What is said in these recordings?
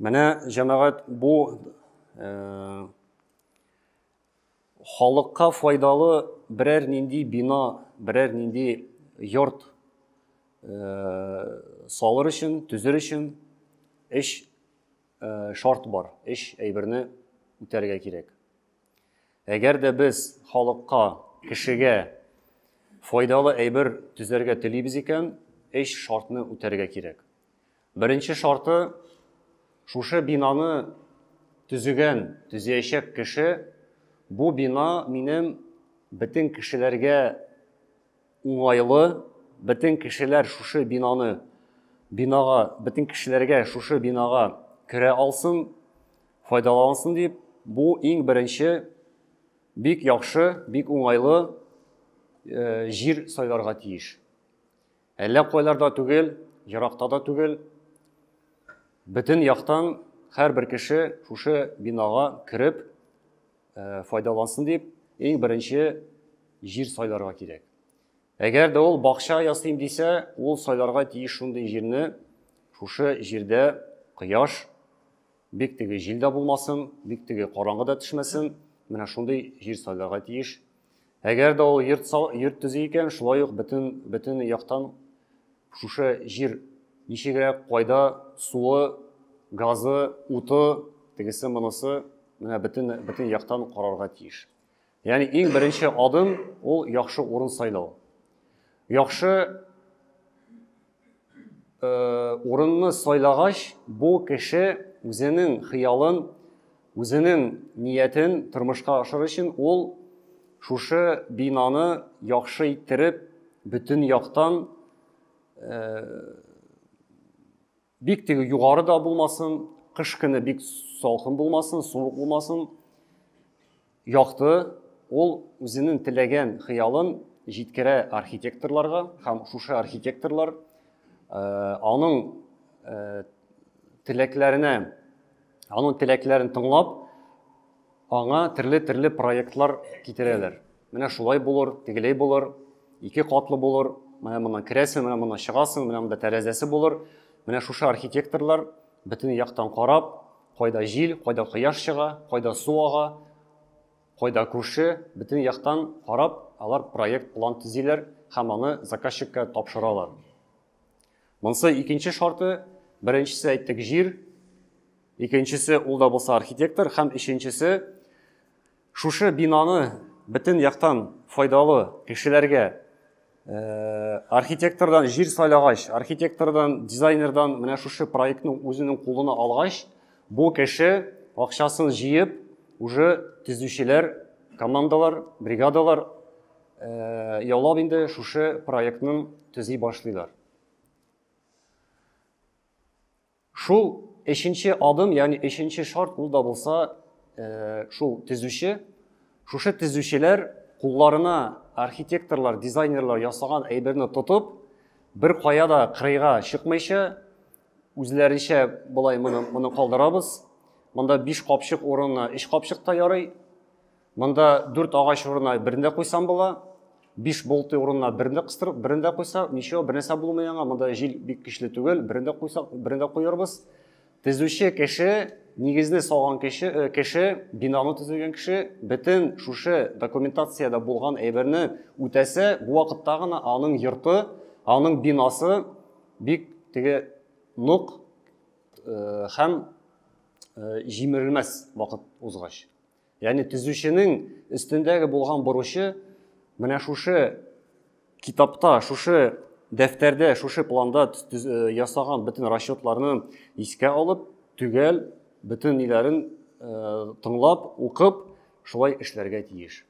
Менә җәмәгать бу э, халыкка файдалы берәр нинди бина, берәр нинди йорт э, салыр өчен, төзер өчен эш э, шарт бар, эш әйберне үтәргә кирәк. Әгәр дә без халыкка, кешегә файдалы әйбер төзәргә телибез икән, өч шартны үтәргә кирәк. Беренче шарты, шушы бинаны төзегән, төзеячәк кеше, бу бина минем бөтен кешеләргә уңайлы, бөтен кешеләр шушы бинаны, бинага, бөтен кешеләргә шушы бинага керә алсын, файдалансын дип, бу иң беренче бик яхшы, бик уңайлы э, җир сайларга тиеш. Әллә кайларда түгел, еракта да түгел, бөтен яктан һәрбер кеше шушы бинага кереп, э, файдалансын дип, иң беренче җир сайларга кирәк. Әгәр дә ул бакча ясыйм дисә, ул сайларга тиеш шундый җирне, шушы җирдә кояш бик теге җил дә булмасын, бик теге караңгы да төшмәсен. Менә шундый җир сайларга тиеш. Әгәр дә ул йорт, йорт төзи икән, шулай ук бөтен, бөтен яктан шушы җир ничегрәк, кайда суы, газы, уты, тегесе монысы, менә бөтен, бөтен яктан карарга тиеш. Ягъни иң беренче адым ул яхшы урын сайлау. Яхшы урынны сайлагач, бу кеше үзенең хыялын, үзенең ниятен тормышка ашыр өчен ул шушы бинаны яхшы иттереп, бөтен яктан бик теге югары да булмасын, кыш көне бик салкын булмасын, суык булмасын, Якты, ул үзенең теләгән хыялын җиткерә архитекторларга һәм шушы архитекторлар э, аның э, теләкләренә, аның теләкләрен тыңлап, аңа төрле-төрле проектлар китерәләр. Менә шулай булыр, тегеләй булыр, ике катлы булыр, менә моннан керәсең, менә моннан чыгасың, менә монда тәрәзәсе булыр. Менә шушы архитекторлар Бөтен яктан карап, кайда җил, кайда кояш чыга, кайда су ага, кайда күрше, бөтен яктан карап, алар проект план төзиләр һәм аны заказчикка тапшыралар. Монсы икенче шарты, беренчесе әйттек җир, икенчесе ул да булса архитектор һәм өченчесе Шушы бинаны бөтен яктан файдалы кешеләргә архитектордан җир сайлагач, архитектордан, дизайнердан менә шушы проектның үзенең кулына алгач, бу кеше акчасын җыеп, уже төзүчеләр, командалар, бригадалар яулап инде шушы проектның төзи башлыйлар. Шул өченче адым, ягъни өченче шарт ул да булса, э, шул төзүче, шушы төзүчеләр кулларына архитекторлар, дизайнерлар ясаган әйберне тотып, бер кая да кырыйга чыкмыйча, үзләренчә болай моны, моны калдырабыз. Монда биш капчык урынына өч капчык та ярый. Монда дүрт агач урынына берен дә куйсам була. Биш болты урынына берен дә кыстырып, берен дә куйсак, ничего, бернәрсә булмый аңа. Монда җил бик көчле түгел, берен дә куйсак, берен дә куярбыз. Төзүче кеше, нигезне салган кеше, э, кеше, бинаны төзегән кеше бөтен шушы документациядә булган әйберне үтәсә, бу вакытта гына аның йорты, аның бинасы бик теге нук э, һәм э, җимерелмәс вакыт узгач. Ягъни төзүченең өстендәге булган бурычы менә шушы китапта, шушы дәфтәрдә, шушы планда э, ясаган бөтен расчетларны искә алып, төгәл бөтен ниләрен э, тыңлап, укып, шулай эшләргә тиеш.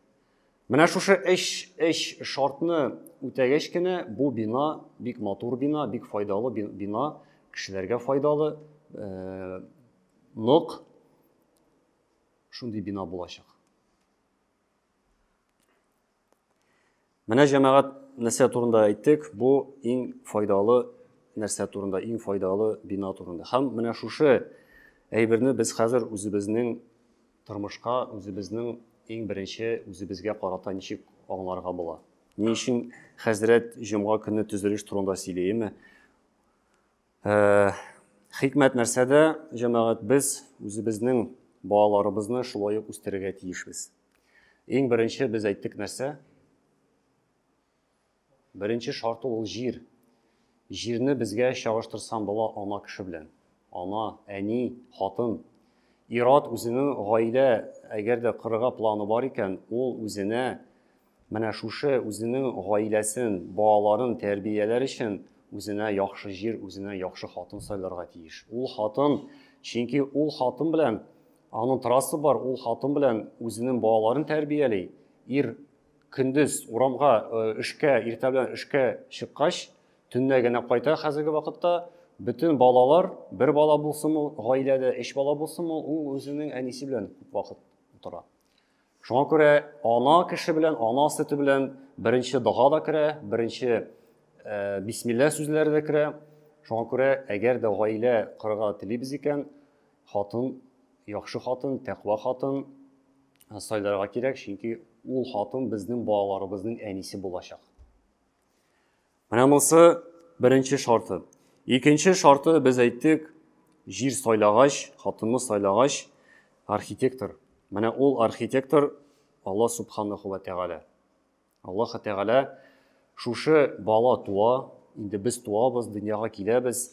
Менә шушы эш эш шартны үтәгәч кенә бу бина бик матур бина, бик файдалы бина, кешеләргә файдалы, э, нык, шундый бина булачак. Менә җәмәгать нәрсә турында әйттек, бу иң файдалы нәрсә турында, иң файдалы бина турында. Һәм менә шушы әйберне без хәзер үзебезнең тормышка, үзебезнең иң беренче үзебезгә карата ничек аңларга була. Ни өчен хәзрәт җомга көне төзелеш турында сөйләеме? Хикмәт нәрсәдә, җәмәгать без үзебезнең балаларыбызны шулай ук үстерергә тиешбез. Иң беренче без әйттек нәрсә? Беренче шарты ул җир. Җирне безгә чагыштырсам була ана кеше белән. Ана, әни, хатын. Ират үзенең гаилә, әгәр дә корырга планы бар икән, ул үзенә Менә шушы үзенең гаиләсен, балаларын тәрбияләр өчен үзенә яхшы җир, үзенә яхшы хатын сайларга тиеш. Ул хатын, чөнки ул хатын белән аның трассы бар, ул хатын белән үзенең балаларын тәрбияли. Ир көндез урамга э, эшкә, иртә белән эшкә чыккач, төнлә генә кайта хәзерге вакытта бөтен балалар, бер бала булсынмы гаиләдә, өч бала булсынмы, ул үзенең әнисе белән күп вакыт утыра. Шуңа күрә ана кеше белән ана сөте белән беренче дога да керә, беренче э, бисмилла сүзләре дә керә. Шуңа күрә әгәр дә гаилә корырга телибез икән, хатын, яхшы хатын, тәкъва хатын э, сайларга кирәк, чөнки ул хатын безнең балаларыбызның әнисе булачак. Менә монысы беренче шарты. Икенче шарты без әйттек, җир сайлагач, хатынны сайлагач, архитектор. Менә ул архитектор Алла Субханаху ва Тәгалә. Аллаһ Тәгалә шушы бала туа, инде без туабыз, дөньяга киләбез.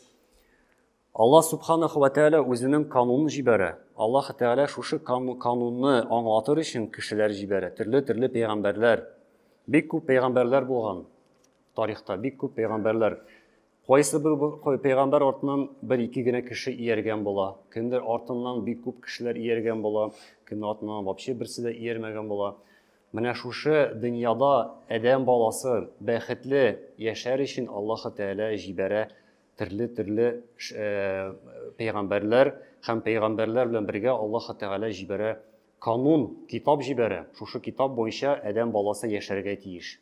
Аллаһ Субханаху вә Тәгалә үзенең канунын җибәрә. Аллаһ Тәгалә шушы канунны аңлатыр өчен кешеләр җибәрә, төрле-төрле пәйгамбәрләр. Бик күп пәйгамбәрләр булган тарихта, бик күп пәйгамбәрләр. Кайсы бер пәйгамбәр артыннан бер-ике генә кеше ияргән була, кемдер артыннан бик күп кешеләр ияргән була, кемнең артыннан вообще берсе дә иярмәгән була. Менә шушы дөньяда адәм баласы бәхетле яшәр өчен Аллаһ Тәгалә җибәрә Төрле төрле пәйгамбәрләр һәм пәйгамбәрләр белән бергә Аллаһ Тәгалә җибәрә канун, китап җибәрә. Шушы китап буенча адәм баласы яшәргә тиеш.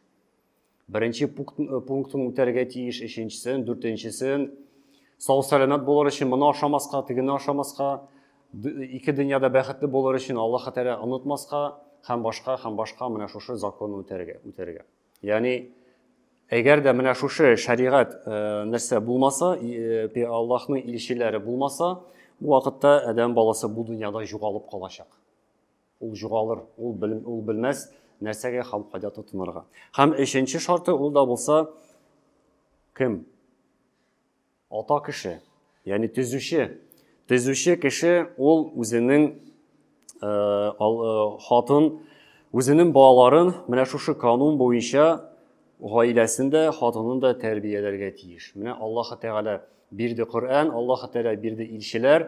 Беренче пунктын үтәргә тиеш, өченчесен, дүртенчесен. Сау сәламәт булыр өчен моны ашамаска, тегене ашамаска, ике дөньяда бәхетле булыр өчен Аллаһ Тәгалә онытмаска һәм башка һәм башка менә шушы законны үтәргә, үтәргә. Яни әгәр дә менә шушы шәригать э, нәрсә булмаса, э, Аллаһның илчеләре булмаса, бу вакытта адәм баласы бу дөньяда югалып калачак. Ул югалыр, ул бел, ул белмәс нәрсәгә һәм кайда тотынырга. Һәм өченче шарты ул да булса кем? Ата кеше, яни төзүче. Төзүче кеше ул үзенең э, э, хатын, үзенең балаларын менә шушы канун буенча гаиләсен дә, хатынын да тәрбияләргә тиеш. Менә Аллаһ Тәгалә бирде Коръән, Аллаһ Тәгалә бирде илчеләр,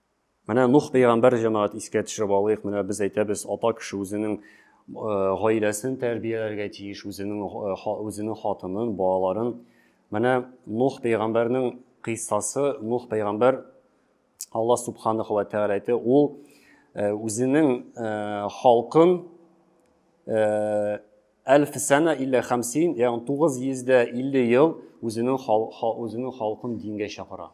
Менә Нух пәйгамбәр җәмәгать искә төшереп алыйк. Менә без әйтәбез, ата кеше үзенең э, гаиләсен тәрбияләргә тиеш, үзенең э, үзенең хатынын, балаларын. Менә Нух пәйгамбәрнең кыйссасы, Нух пәйгамбәр Алла субханаху ва тәгалә әйтте, ул э, үзенең халкын әлф сәнә иллә хамсин, ягъни 950 ел үзенең үзенең халкын дингә чакыра.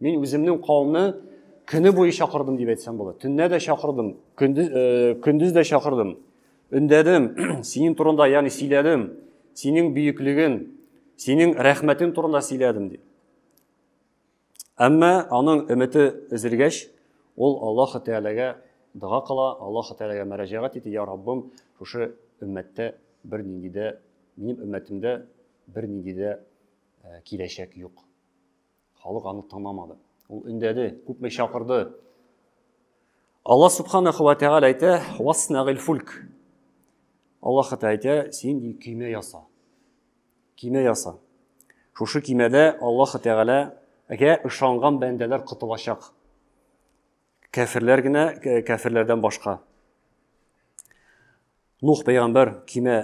Мин үземнең кавымны көне буе чакырдым дип әйтсәм була. Төнлә дә чакырдым, көндез, э, көндез дә чакырдым. Өндәдем, синең турында, ягъни сөйләдем, синең бөеклеген, синең рәхмәтең турында сөйләдем ди. Әмма аның өмете өзелгәч, ул Аллаһ Тәгаләгә дога кыла, Аллаһ Тәгаләгә мәрәҗәгать итә, я Раббым, шушы өммәттә бер нинди дә, минем өммәтемдә бер нинди дә э, киләчәк юк. Халык аны тыңламады. Ул өндәде, күпме чакырды. Алла субханаху ва тәгалә әйтә, "Васнагил фульк". Аллаһ та әйтә, "Син ди кимә яса". Кимә яса. Шушы кимәдә Аллаһ тәгаләгә ышанган бәндәләр котылачак. Кәферләр генә, кәферләрдән башка. Нух пәйгамбәр кимә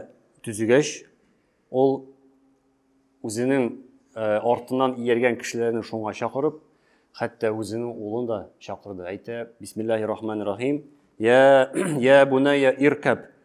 төзегәч, ул үзенең э, артыннан ияргән кешеләрен шуңа чакырып, хәтта үзенең улын да чакырды. Әйтә, бисмиллахи рахманир рахим. Я, я бунайя иркәп,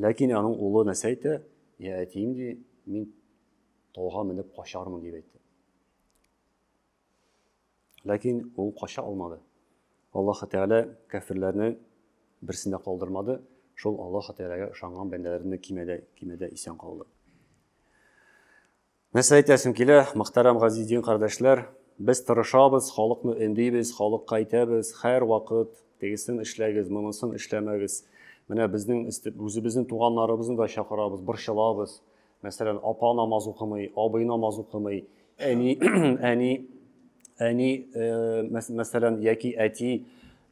Ләкин аның улы нәрсә әйтә? Я әтием ди, мин тауга менеп качармын дип әйтте. Ләкин ул кача алмады. Аллаһ Тәгалә кәфирләрне берсендә калдырмады. Шул Аллаһ Тәгаләгә ышанган бәндәләрне кимәдә кимәдә исән калды. Нәрсә әйтәсем килә, мөхтәрәм газиз дин кардәшләр, без тырышабыз, халыкны өндибез, халыкка әйтәбез, хәр вакыт тегесен эшләгез, монысын эшләмәгез. Менә безнең үзебезнең туганнарыбызны да чакырабыз, борчылабыз. Мәсәлән, апа намаз укымый, абый намаз укымый, әни, әни, әни, мәсәлән, яки әти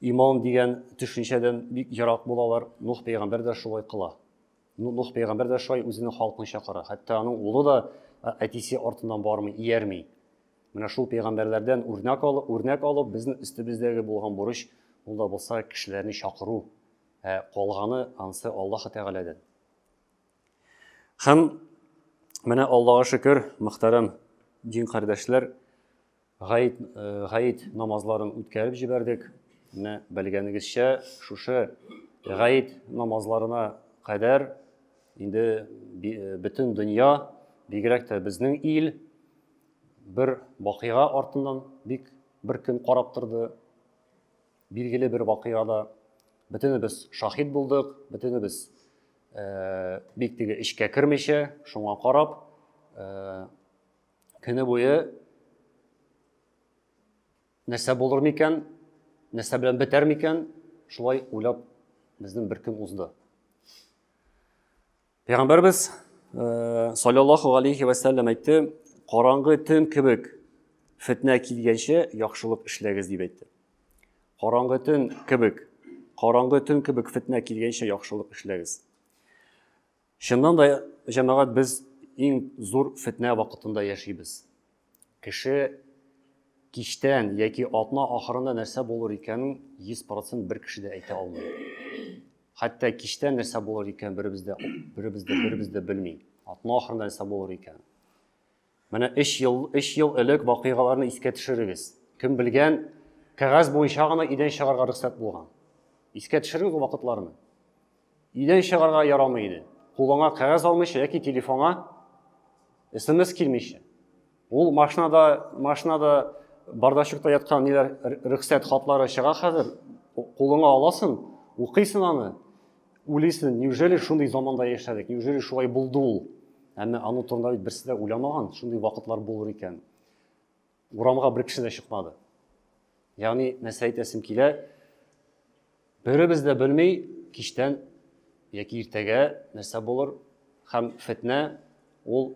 иман дигән төшенчәдән бик ерак булалар. Нух пәйгамбәр дә шулай кыла. Ну, Нух пәйгамбәр дә шулай үзенең халкын чакыра. Хәтта аның улы да әтисе артыннан бармый, иярми. Менә шул пәйгамбәрләрдән үрнәк алып, үрнәк алып, безнең өстебездәге булган бурыч ул да булса кешеләрне чакыру. Ә калганы ансы Аллаһ Тәгаләдән. Һәм менә Аллаһка шөкер, мөхтәрәм дин кардәшләр, Гает, э, гает намазларын үткәреп җибәрдек. Менә белгәнегезчә, шушы гает намазларына кадәр инде э, бөтен дөнья, бигрәк тә безнең ил бер вакыйга артыннан бик бер көн карап торды. Билгеле бер вакыйгада бөтенебез шаһит булдык, бөтенебез э, бик теге эчкә кермичә, шуңа карап, э, көне буе нәрсә булыр микән, нәрсә белән бетәр микән, шулай уйлап безнең бер көн узды. Пәйгамбәрбез э, саллаллаху алейхи ва саллям әйтте, караңгы төн кебек фетнә килгәнче яхшылык эшләгез дип әйтте. Караңгы төн кебек, караңгы төн кебек фетнә килгәнче яхшылык эшләгез. Чыннан да, җәмәгать, без иң зур фетнә вакытында яшибез. Кеше кичтән яки атна ахырында нәрсә булыр икәнен 100% бер кеше дә әйтә алмый. Хәтта кичтән нәрсә булыр икән беребез дә беребез дә беребез дә белми. Атна ахырында нәрсә булыр икән. Менә өч ел, өч ел элек вакыйгаларны искә төшерегез. Кем белгән, кәгазь буенча гына өйдән чыгарга рөхсәт булган. Искә төшерегез ул вакытларны. Өйдән чыгарга ярамый иде. Кулыңа кәгазь алмыйча яки телефонга смс килмичә. Ул машинада, машинада бардачукта яткан ниләр рөхсәт хатлары чыга хәзер. Кулыңа аласың, укыйсың аны. Уйлыйсың, неужели шундый заманда яшәдек, неужели шулай булды ул? Әмма аның турында бит берсе дә уйламаган, шундый вакытлар булыр икән. Урамга бер кеше дә чыкмады. Ягъни, нәрсә әйтәсем килә, беребез дә белми, кичтән яки иртәгә нәрсә булыр, һәм фетнә ул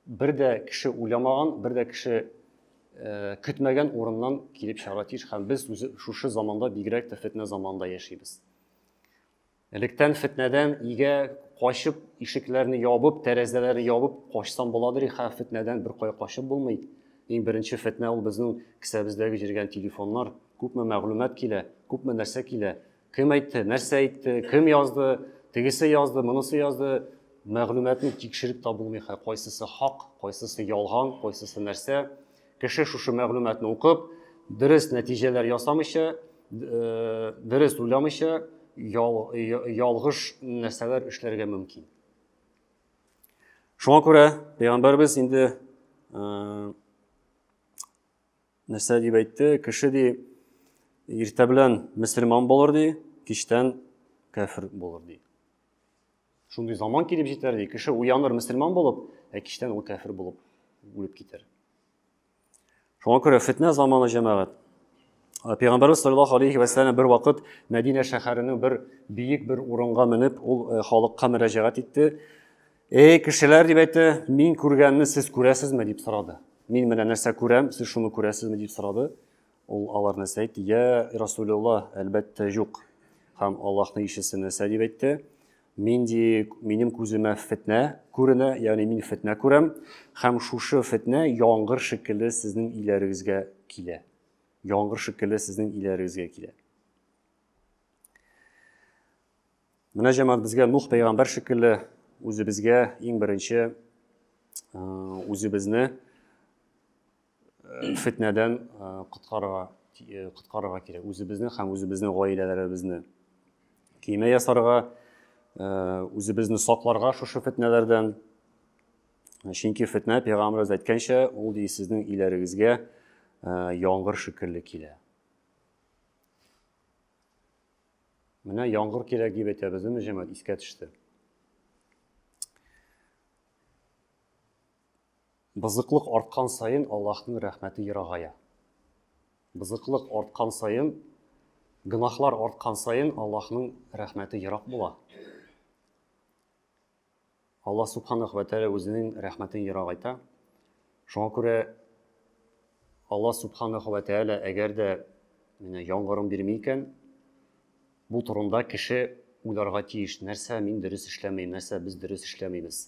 бер дә кеше уйламаган, бер дә кеше э, көтмәгән урыннан килеп чыгара тиеш, һәм без шушы заманда бигрәк тә фетнә заманда яшибез. Электән фетнәдән игә качып, ишекләрне ябып, тәрәзәләрне ябып качсам буладыр и хә, фетнәдән бер кая качып булмый. Иң беренче фетнә ул безнең кесәбездәге җиргән телефоннар. Күпме мәгълүмат килә, күпме нәрсә килә. Кем әйтте, нәрсә әйтте, кем язды, тегесе язды, монысы язды. Мәгълүматны тикшереп табылмый хә, кайсысы хак, кайсысы ялган, кайсысы нәрсә. Кеше шушы мәгълүматны укып, дөрес нәтиҗәләр ясамыйча, э, дөрес уйламыйча, ялгыш нәрсәләр эшләргә мөмкин. Шуңа күрә пәйгамбәрбез инде э, нәрсә дип әйтте, кеше ди иртә белән мөселман булыр ди, кичтән кәфир булыр ди. Шундый заман килеп җитәр ди, кеше уяныр мөселман булып, ә кичтән ул кәфер булып үлеп китәр. Шуңа күрә фетнә заманы җәмәгать. Ә Пәйгамбәрбез саллаллаху алейхи ва сәлләм бер вакыт Мәдинә шәһәренең бер биек бер урынга менеп, ул э, халыкка мөрәҗәгать итте. Эй, кешеләр дип әйтте, мин күргәнне сез күрәсезме дип сорады. Мин менә нәрсә күрәм, сез шуны күрәсезме дип сорады. Ул алар нәрсә әйтте? Я Расулилла, әлбәттә юк. Һәм Аллаһның илчесе нәрсә дип әйтте? Мин ди, минем күземә фетнә күренә, ягъни мин фетнә күрәм, һәм шушы фетнә яңгыр шикелле сезнең иләрегезгә килә. Яңгыр шикелле сезнең иләрегезгә килә. Менә җәмәгать безгә Нух пәйгамбәр шикелле үзебезгә иң беренче үзебезне фетнәдән коткарырга коткарырга кирәк үзебезне һәм үзебезнең гаиләләребезне киемә ясарга үзебезне сакларга шушы фетнәләрдән чөнки фетнә пәйгамбәребез әйткәнчә ул ди сезнең иләрегезгә яңгыр шикелле килә менә яңгыр кирәк дип әйтәбез ме җәмәт искә төште Бозыклык арткан саен Аллаһның рәхмәте ерагая. Бозыклык арткан саен, гөнаһлар арткан саен Аллаһның рәхмәте ерак була. Аллаһ Субханах вә Тәгалә үзенең рәхмәтен ерагайта. Шуңа күрә Аллаһ Субханах вә Тәгалә әгәр дә менә яңгырын бирми икән, бу турында кеше уйларга тиеш, нәрсә мин дөрес эшләмим, нәрсә без дөрес эшләмибез.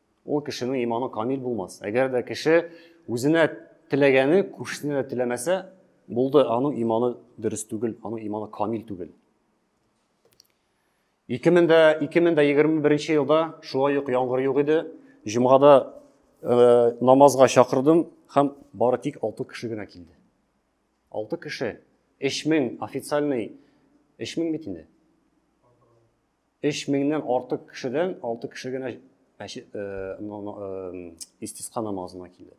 Ул кешенең иманы камил булмас. Әгәр дә кеше үзенә теләгәне күршесенә дә теләмәсә, булды, аның иманы дөрес түгел, аның иманы камил түгел. 2021 елда шулай ук яңгыр юк иде. Җомгада э, намазга чакырдым һәм бары тик 6 кеше генә килде. 6 кеше 3000 официальный 3000 бит инде. өч меңнән артык кешедән алты кеше генә мәчет э, э, истисқа намазына килде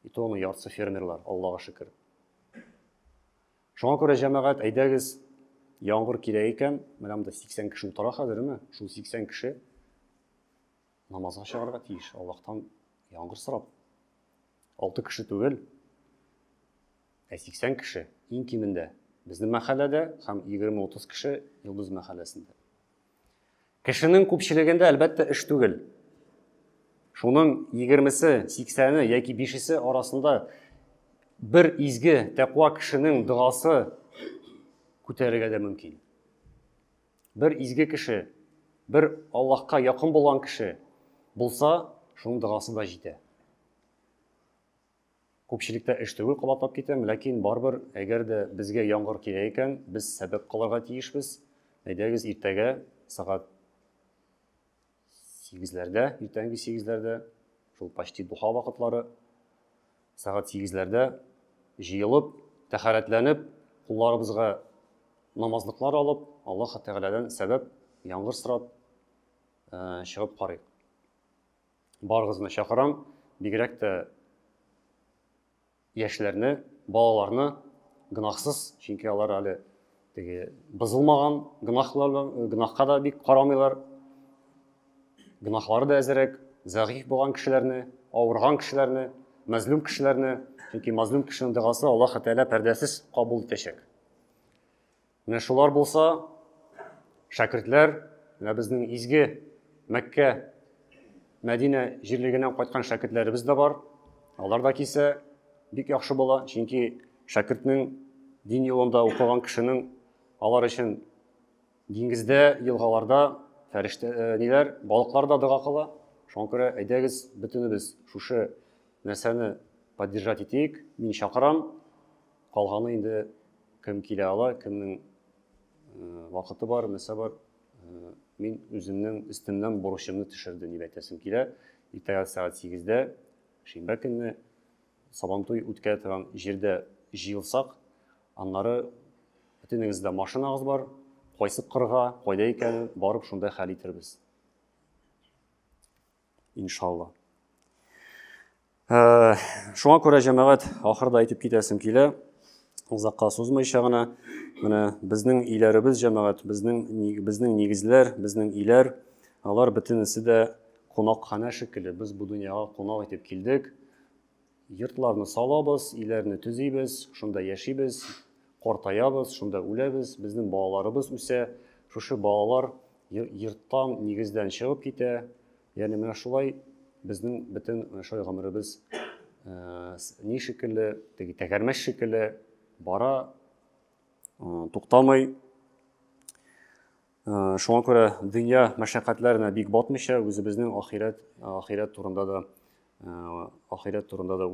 и то аны яртысы фермерлар аллаға шөкер шуңа күрә җәмәгать әйдәгез яңгыр килә икән менә монда сиксән кеше утыра хәзер мә шул сиксән кеше намазга чыгарга тиеш аллаһтан яңгыр сорап алты кеше түгел Ә 80 кеше, иң кимендә, безнең мәхәлләдә һәм 20-30 кеше Йолдыз мәхәлләсендә. Кешенең күпчелегендә, әлбәттә, эш түгел. Шуның 20-се, 80-е яки 5-се арасында бер изге тәкъва кешенең догасы күтәрергә дә мөмкин. Бер изге кеше, бер Аллаһка якын булган кеше булса, шуның догасы да җитә. Күпчелектә эш түгел кабатлап китәм, ләкин барыбер, әгәр дә безгә яңгыр килә икән, без сәбәк кылырга тиешбез. Әйдәгез иртәгә сәгать сигезләрдә, иртәнге сигезләрдә, шул почти духа вакытлары, сәгать сигезләрдә җыелып, тәхәрәтләнеп, кулларыбызга намазлыклар алып, Аллаһ Тәгаләдән сәбәп, яңгыр сорап э, чыгып карыйк. барыгызны чакырам, бигрәк тә яшьләрне, балаларны гынахсыз, чөнки алар әле теге бозылмаган гынахлар, гынахка да бик карамыйлар. Гынахлары да әзерәк, зәгыйф булган кешеләрне, авырган кешеләрне, мәзлум кешеләрне, чөнки мәзлум кешенең догасы Аллаһ Тәгалә пәрдәсез кабул итәчәк. Менә шулар булса, шәкертләр, менә безнең изге Мәккә, Мәдинә җирлегеннән кайткан шәкертләребез дә бар. Алар да кисә бик яхшы була, чөнки шәкертнең дин юлында укыган кешенең алар өчен диңгездә, елгаларда фәрештә э, ниләр, балыклар да дога кыла. Шуңа күрә әйдәгез бөтенебез шушы нәрсәне поддержать итик. Мин чакырам. Калганы инде кем килә ала, кемнең вакыты бар, нәрсә бар. Мин үземнең өстемнән бурычымны төшердем дип әйтәсем килә. Иртәгә сәгать 8-дә шимбә көнне Сабантуй үткәрә торган җирдә җыелсак, аннары бөтенегез дә машинагыз бар, кайсы кырга, кайда икәнен барып шунда хәл итербез. иншалла. Э, шуңа күрә җәмәгать ахырда әйтеп китәсем килә, озакка сузмыйча гына, менә безнең иләребез җәмәгать, безнең безнең нигезләр, безнең иләр, алар бөтенесе дә кунакханә шикелле. Без бу дөньяга кунак итеп килдек. Йортларны салабыз, өйләрне төзибез, шунда яшибез, картаябыз, шунда үләбез, безнең балаларыбыз үсә, шушы балалар йорттан, нигездән чыгып китә. Ягъни менә шулай безнең бөтен шулай гомеребез э, ни шикелле, теге тәгәрмәч шикелле бара, э, туктамый. Шуңа күрә дөнья мәшәкатьләренә бик батмыйча, үзебезнең ахирәт, ахирәт турында да, ахирәт турында да уйлап